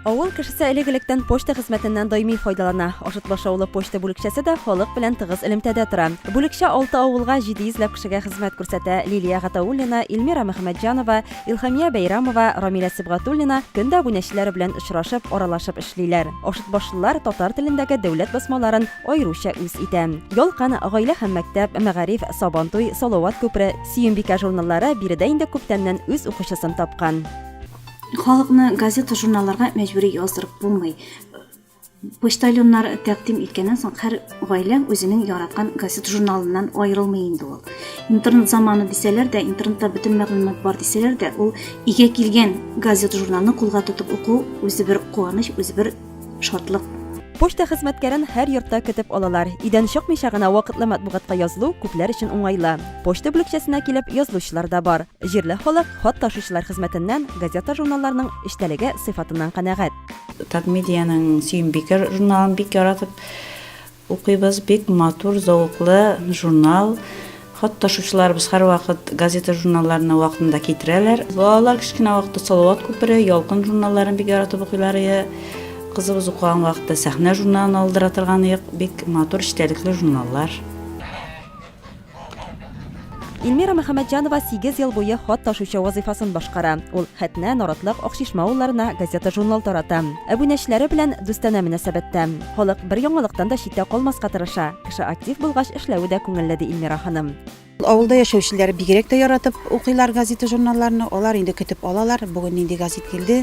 Авыл кешесе элек-электән почта хезмәтеннән даими файдалана. Ашытлаш авылы почта бүлекчәсе дә халык белән тыгыз элемтәдә тора. Бүлекчә алты авылга 700 ләп кешегә хезмәт күрсәтә. Лилия Гатауллина, Илмира Мөхәммәтҗанова, Илхамия Бәйрамова, Рамилә Сибгатуллина көн дә абунәчеләре белән очрашып, аралашып эшлиләр. Ашытбашлылар татар телендәге дәүләт басмаларын аеруча үз итә. Ялкын, Гаилә һәм мәктәп, Мәгариф, Сабантуй, Салават күпере, Сөембикә журналлары биредә инде күптәннән үз укучысын тапкан. Халыкны газета-журналларга мәҗбүри яздырып булмый. Почтальоннар тәкъдим иткәннән соң һәр гаилә үзенең яраткан газета-журналыннан аерылмый инде ул. Интернет заманы дисәләр дә, интернетта бөтен мәгълүмат бар дисәләр дә, ул игә килгән газета-журналны кулга тотып уку үзе бер куаныч, үзе бер шатлык. Почта хезмәткәрен һәр йортта көтеп алалар. Өйдән чыкмыйча гына вакытлы матбугатка язылу күпләр өчен уңайлы. Почта бүлекчәсенә килеп язылучылар да бар. Җирле халык хат ташучылар хезмәтеннән, газета-журналларның эчтәлеге, сыйфатыннан канәгать. Татмедианың Сөембикә журналын бик яратып укыйбыз. Бик матур, зәвыклы журнал. Хат ташучыларыбыз һәрвакыт газета-журналларны вакытында китерәләр. Балалар кечкенә вакытта Салават күпере, Ялкын журналларын бик яратып укыйлар иде. Кызыбыз укыган вакытта Сәхнә журналын алдыра торган идек. Бик матур, эчтәлекле журналлар. Ильмира Мөхәммәтҗанова сигез ел буе хат ташучы вазыйфасын башкара. Ул Хәтнә, Наратлык, Акчишмә авылларына газета-журнал тарата. Әбүнәчеләре белән дустанә мөнәсәбәттә. Халык бер яңалыктан да читтә калмаска тырыша. Кеше актив булгач, эшләве дә күңелле, ди Ильмира ханым. Авылда яшәүчеләр бигрәк тә яратып укыйлар газета-журналларны. Алар инде көтеп алалар, бүген нинди газет килде,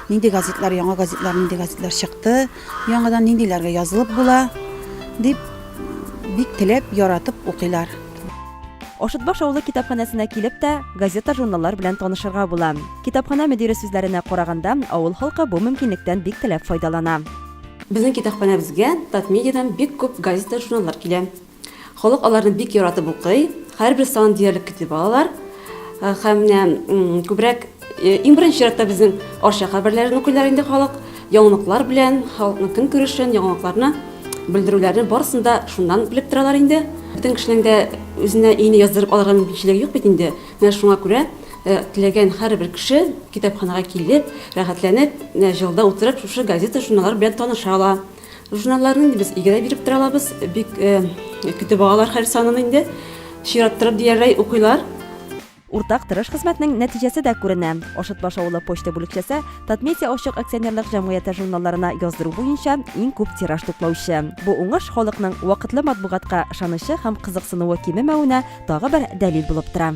нинди газетлар, яңа газетлар, нинди газетлар чыкты. Яңадан ниндиләргә язылып була? дип, бик теләп, яратып укыйлар. Ашытбаш авылы китапханәсенә килеп тә, газета-журналлар белән танышырга була. Китапханә мөдире сүзләренә караганда, авыл халкы бу мөмкинлектән бик теләп файдалана. Безнең китапханәбезгә Татмедиадан бик күп газета-журналлар килә. Халык аларны бик яратып укый, һәрбер санын диярлек көтеп алалар. Э, һәм менә күбрәк э, иң беренче чиратта безнең Арча хәбәрләрен укыйлар инде халык. Яңалыклар белән, халыкның көн күрешен, яңалыкларны белдерүләрне барысын да шуннан белеп торалар инде. Бөтен кешенең дә үзенә ине яздырып алырга мөмкинчелеге юк бит инде. Менә шуңа күрә э, теләгән һәрбер кеше китапханага килеп, рәхәтләнеп, җылда утырып, шушы газета, журналлар белән таныша ала. Журналларны инде без игедә биреп тора алабыз. Бик көтеп алалар һәр санын инде. Чираттырып диярләй укыйлар. Уртак тырыш хезмәтнең нәтиҗәсе дә күренә. Ашытбаш авылы почта бүлекчәсе Татмедиа ачык акционерлык җәмгыяте журналларына яздыру буенча иң күп тираж туплаучы. Бу уңыш халыкның вакытлы матбугатка ышанычы һәм кызыксынуы кимемәвенә тагы бер дәлил булып тора.